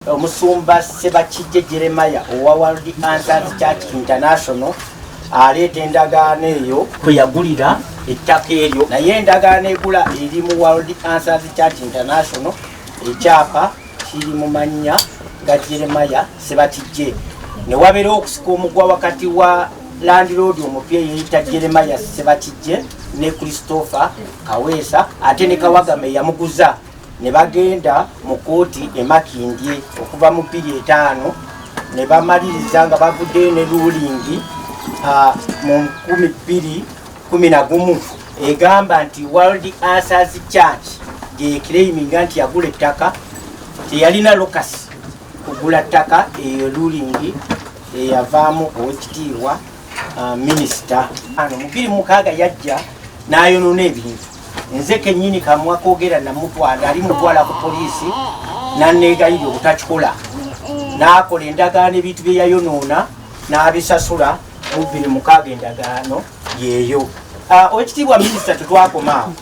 Omusumba Sebakijje Jeremiah owa World Answers Church International aleeta endagaano eyo kwe yagulira ettaka eryo naye endagaano egula eri mu World Answers Church International ekyapa kiri mu mannya ga Jeremiah Sebakijje ne wabeerawo okusika omugwa wakati wa landiroodi omupya eyeyita Jeremiah Sebakijje ne Christopher Kaweesa ate ne Kawagama eyamuguza ne bagenda mu kkooti e Makindye okuva mu bbiri etaano ne bamaliriza nga bavuddeyo ne luulingi mu nkumi bbiri kumi na gumu egamba nti world answers church gyekiraiminga nti yagula ettaka teyalina lokasi kugula ttaka eyo luulingi eyavaamu owekitiibwa minisita ano mubiri mukaaga yajja n'ayonoona ebintu nze kenyini kamwa kogera namutwala ali mutwala ku poliisi nanegayiri obutakikola nakola endagaano ebintu byeyayonoona n'abisasula mu bbiri mukaaga endagaano yeeyo ah, owekitiibwa minisita tetwakomaawo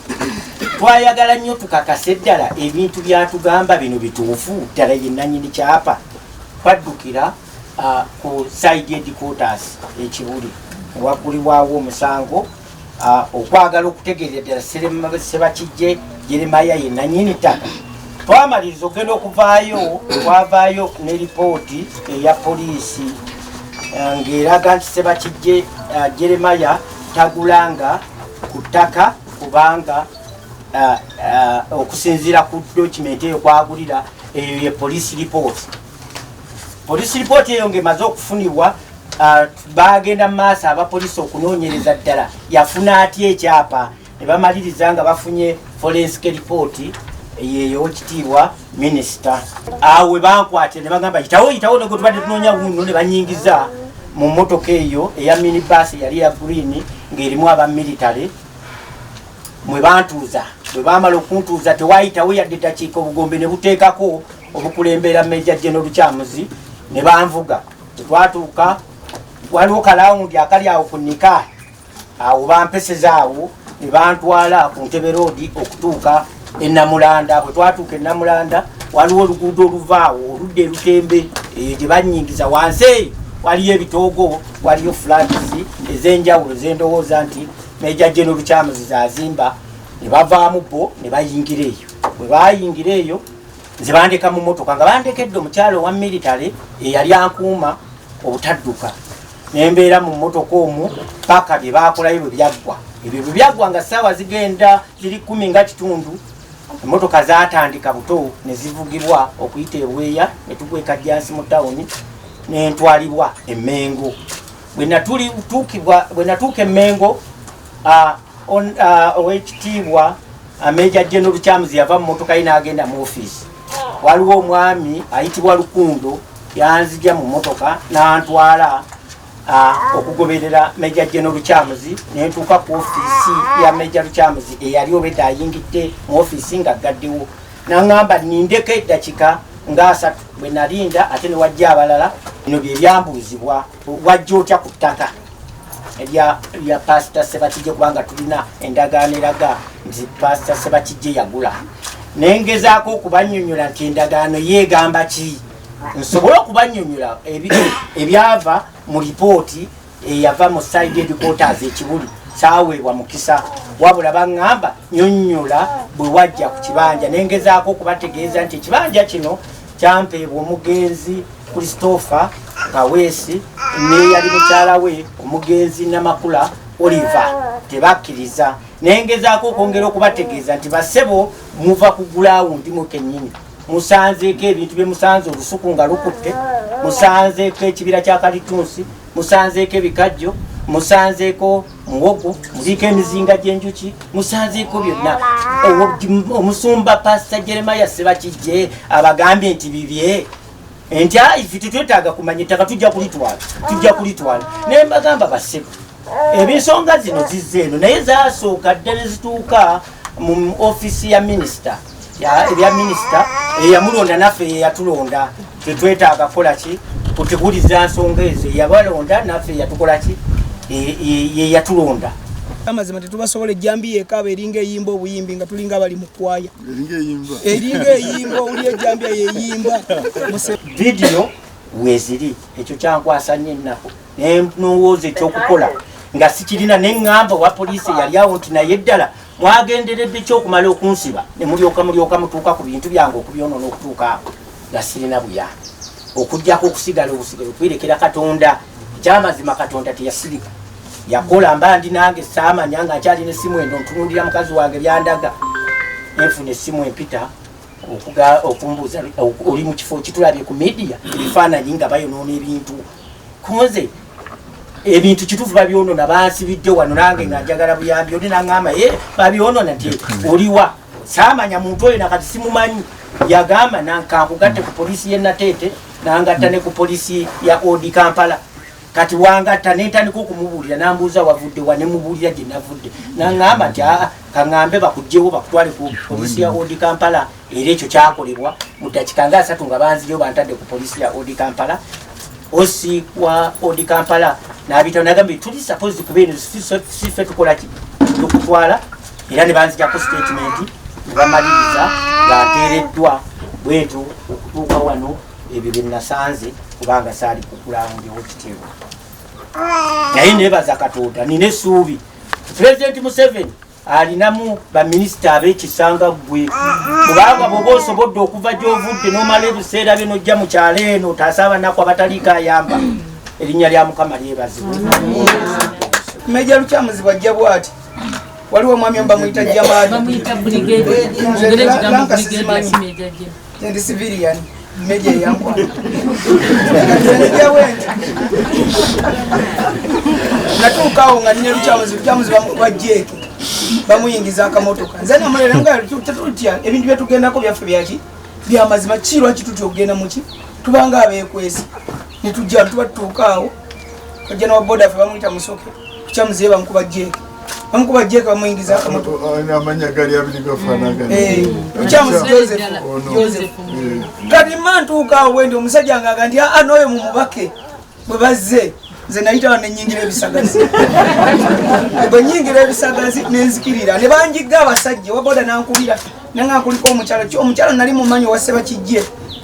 twayagala nnyo tukakase ddala ebintu byatugamba bino bituufu ddala yenanyini kyapa twaddukira ah, ku saidi edikotas ekibuli ewaggulibwawo omusango Ah, okwagala okutegeerera ddala sebakijje jeremaya ye nanyini ttaka twamaliriza okugenda okuvaayo twavaayo ne lipooti eya poliisi ah, ng'eraga nti sebakijje ah, jeremaya tagulanga ku ttaka kubanga okusinziira ku dokimenti eyo kwagulira eyo ye poliisi lipooti Poliisi lipooti eyo ng'emaze okufunibwa uh, baagenda mu maaso abapoliisi okunoonyereza ddala yafuna atya ekyapa ne bamaliriza nga bafunye forensic lipooti yeyo kitiibwa minisita awe bankwatira ne bagamba yitawo yitawo ne gwetubadde tunoonya wuuno ne banyingiza mu mmotoka eyo eya minibus yali ya green ng'erimu aba military mwe bantuuza bwe baamala okuntuuza tewayitawo yadde dakiika obugombe ne buteekako omukulembera meja jeno lukyamuzi ne banvuga tetwatuuka waliwo kalawundi akali awo ku nika awo bampeseza awo ne bantwala ku ntebe roodi okutuuka enamulanda bwe twatuuka enamulanda waliwo oluguudo oluva awo oludda erutembe eyo eh, gye banyingiza wansi eyo waliyo ebitoogo waliyo fulatisi ez'enjawulo zendowooza nti meja jeno lukyamuzi zazimba ne bavaamu bo ne bayingira eyo bwe bayingira eyo nze bandeka mu motoka nga bandekedde omukyalo owa military eyali ankuuma obutadduka nembeera mu motoka omu paka bye bakolayo bwe byaggwa ebyo bwe byaggwa nga ssaawa zigenda ziri kumi nga kitundu emotoka zatandika buto ne zivugibwa okuyita ebweya ne tukweka jansi mu tawuni nentwalibwa emengo bwenatuukibwa bwenatuuka emengo On, uh, owekitiibwa ameja uh, General Kyamuzi yava mu motoka ye n'agenda mu ofiisi. Waliwo omwami ayitibwa Lukundo yanzija mu motoka n'antwala uh, okugoberera Meja General Kyamuzi ne ntuuka ku ofiisi ya Meja Kyamuzi eyali obedda ayingidde mu ofiisi nga gaddewo n'angamba nindeko eddakika ng'asatu bwe nalinda ate ne wajja abalala bino bye byambuuzibwa wajja otya ku ttaka ebya bya pastor sebakijje kubanga tulina endagaano eraga nti pastor sebakijje yagula naye ngezaako okubanyonyola nti endagaano yeegamba ki nsobole okubanyonyola ebyava mu lipooti eyava mu side edikotas ekibuli kyaweebwa mukisa wabula baŋŋamba nyonyola bwe wajja ku kibanja naye ngezaako okubategeeza nti ekibanja kino kyampeebwa omugenzi Christopher Kaweesi n'eyali mukyala we omugenzi Namakula Oliver tebakkiriza naye ngezaako okwongera okubategeeza nti basebo muva ku gulawundi mu kennyini musanzeeko ebintu bye musanze olusuku nga lukutte musanzeeko ekibira kya kalitunsi musanzeeko ebikajjo musanzeeko muwogo muliiko emizinga gy'enjuki musanzeeko byonna omusumba pasita jeremaya sebakijje abagambye nti bibye nti ayi ffe tetwetaaga kumanya ettaka tujja kulitwala tujja kulitwala naye mbagamba basebo ebensonga zino zizze eno naye zasooka dda ne zituuka mu ofiisi ya minisita ebya minisita eyamulonda naffe yeyatulonda tetwetaaga kukola ki kuteguliza nsonga ezo eyabalonda naffe yeyatukola ki yeyatulonda amazima tetubasobola ejjambiya ekaaba eringa eyimba obuyimbi nga tulinga abali mu kwaya eringa eyimba oli ejambya yeyimba vidiyo weziri ekyo kyankwasa nyo ennaku nenowooza ekyokukola nga sikirina neŋŋamba owa poliisi yali awo nti naye ddala mwagenderedde kyokumala okunsiba ne mulyoka mulyoka mutuuka ku bintu byange okubyonoona okutuuka awo nga sirina buyambi okujjako okusigala obusigala okwerekera katonda ekyamazima katonda teyasirika yakola mba ndi nange saamanya nga nkyalina essimu endo ntunulira mukazi wange byandaga enfuna essimu empita okumbuuza oli mu kifo kitulabye ku midiya ebifaananyi nga bayonoona ebintu kunze ebintu kitufu babyonona bansibidde wano nange nga njagala buyambi oli nangamba e eh, babyonona nti oliwa saamanya muntu oyo nakati simumanyi yagamba nankankugatte ku polisi ye nateete nangatta ne ku polisi ya odi kampala kati wangatta nentandika okumubuulira nambuuza wavudde wa nemubuulira gye navudde naŋamba nti aa kaŋambe bakugjewo bakutwale ku polisi ya odi kampala era ekyo kyakolebwa mu dakika nga asatu nga banziyo bantadde ku polisi ya odi kampala osi wa odi kampala nabitao nagambe tuli suppose kubeeno sife tukolaki tukutwala era ne banzijako sitatimenti ne bamaliriza nga nteereddwa bwentyo okutuuka wano ebyo bye nasanze kubanga saali kukulawundewo kitero naye nebaza katonda nina essuubi pulezidenti museveni alinamu baminisita abekisanga ggwe kubanga bwoba osobodde okuva gyovudde nomala ebiseera byo nojja mu kyalo eno otaasa abanaku abataliiko ayamba erinnya lya mukama lyebazibwe meja lukyamuzibwa jja bwati waliwo omwami omu bamuyita jamaaendi civilian meja eyankwanaeyawendi natuukawo nga nina lukyamuzi lukyamuzi bamukuba jeeke bamuyingiza akamotoka nze namulera nga tetutya ebintu byetugendako byaffe byaki byamazima kirwaki tutya okugenda muki tubanga abekwezi netujja tuba tutuukaawo kojja na boda fe bamuyita musoke kukya muzeyi bamukuba jeeke bamukuba jeeke bamuyingiza amanya gali abiri gafanagana eh, kukya musi joseph joseph eh. kati ma ntuuka awo wendi omusajja ngaga nti aa ah, nooyo mu mubake bwe bazze nze nayita ba nenyingira ebisagazi bwe nyingira ebisagazi nenzikirira ne banjigga abasajja waboda nankubira nanga kuliko omukyalo omukyalo nali mumanyi owaseba kijje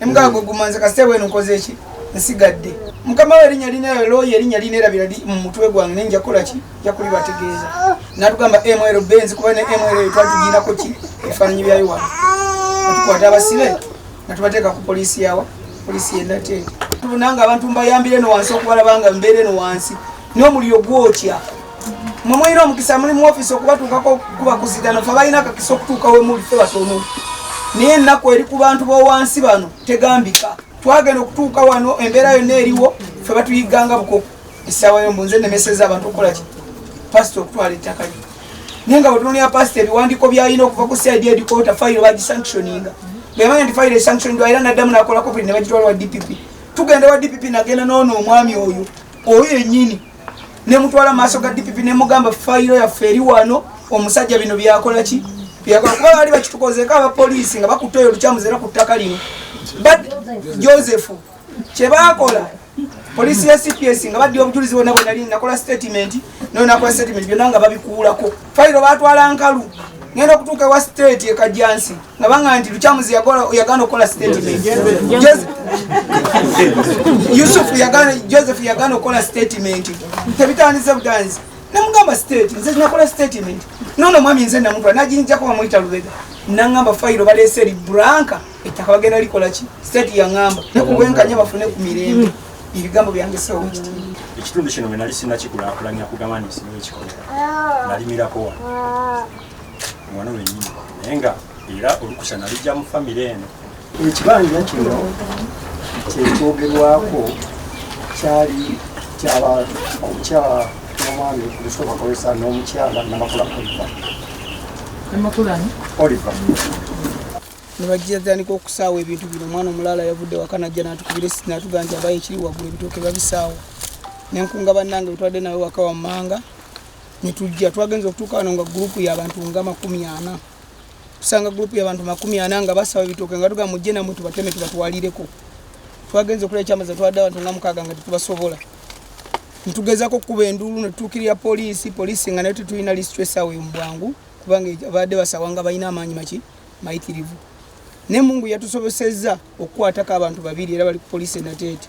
Emugaago mm. gumanze kasita wenu nkoze ki nsigadde mukama we erinya lina looya erinya lina erabira li mu mutwe gwange ne njakola ki njakuli bategeeza natugamba ml benzi kuba ne ml twatugiinako ki ebifaananyi byayo wa atukwata abasibe natubateeka ku poliisi yawa poliisi yenate tubunanga abantu mbayambire no wansi okubalabanga mbeere no wansi n'omuliro gwokya mwe mulina omukisa muli mu ofisi okubatuukako okukuba kuzigana fe balina akakisa okutuuka wemuli fe batono naye ennaku eri ku bantu b'owansi bano tegambika twagenda okutuuka wano embeera yonna eriwo fe batuyiganga bukoko essaawa yombu nze nemeseza abantu okukola ki pasita okutwala ettaka lyo naye nga bwetunulira pasita ebiwandiiko byalina okuva ku cid edikota fayiro bagisanctioninga bwemanya nti fayiro esanctioningwa era naddamu nakolako buli ne bagitwala wa dpp tugenda wa dpp nagenda noona omwami oyo oyo enyini ne mutwala maaso ga DPP ne mugamba fayiro yaffe eri wano omusajja bino byakola ki byakola kuba baali bakitukozeeko abapoliisi nga bakutte oyo olukyamuzi era ku ttaka lino but joseph kye baakola poliisi ya cps nga baddi obujulizi bwonna bwe nali nakola statement nayo nakola statement byonna nga babikuulako fayiro baatwala nkalu ngenda okutuuka ewa state ekajjansi nabanga nti lukyamuzi yagana okukola statement yusufu joseph yagana okukola statement tebitandise buganzi namugamba state nze nakola statement nono mwami nze namukula najinjako bamuyita lubega nangamba fayiro balese eri branka ettaka bagenda likolaki state yangamba nekubwenkanya bafune ku mirembe ebigambo byange sewo mukitiibwa ekitundu kino wenali sinakikulakulanya kugamba nti nsinga ekikomera nalimirako wano mwana wenyini naye nga era olukusa nalijja mu famire eno ekibanja kino kyekyogerwako kyali kyabaomukyala nomwami lusooka kozesa n'omukyala namakula oliva namakulani oliva nebajjatandika okusaawa ebintu bino omwana omulaala yavudde waka najja natukubira esi natugaa nti abayo ekiri waggulu ebitooke babisaawa nenkunga bannange bitwadde nawe waka wammanga netujja twagenza okutuuka wano nga gurupu yabantu nga makumi ana tusanga gurupu yabantu makumi ana nga basaba ebitooke nga tuga mujje namwe tubateme tubatwalireko twagenza okulaba ekyamaza twadde abantu nga mukaaga nga tetubasobola netugezako okukuba enduulu netutuukirira poliisi poliisi nga nayo tetulina lisitresawe mubwangu kubanga abadde basawa nga balina amaanyi maki mayitirivu ne mungu yatusobosezza okukwatako abantu babiri era bali ku poliisi enateete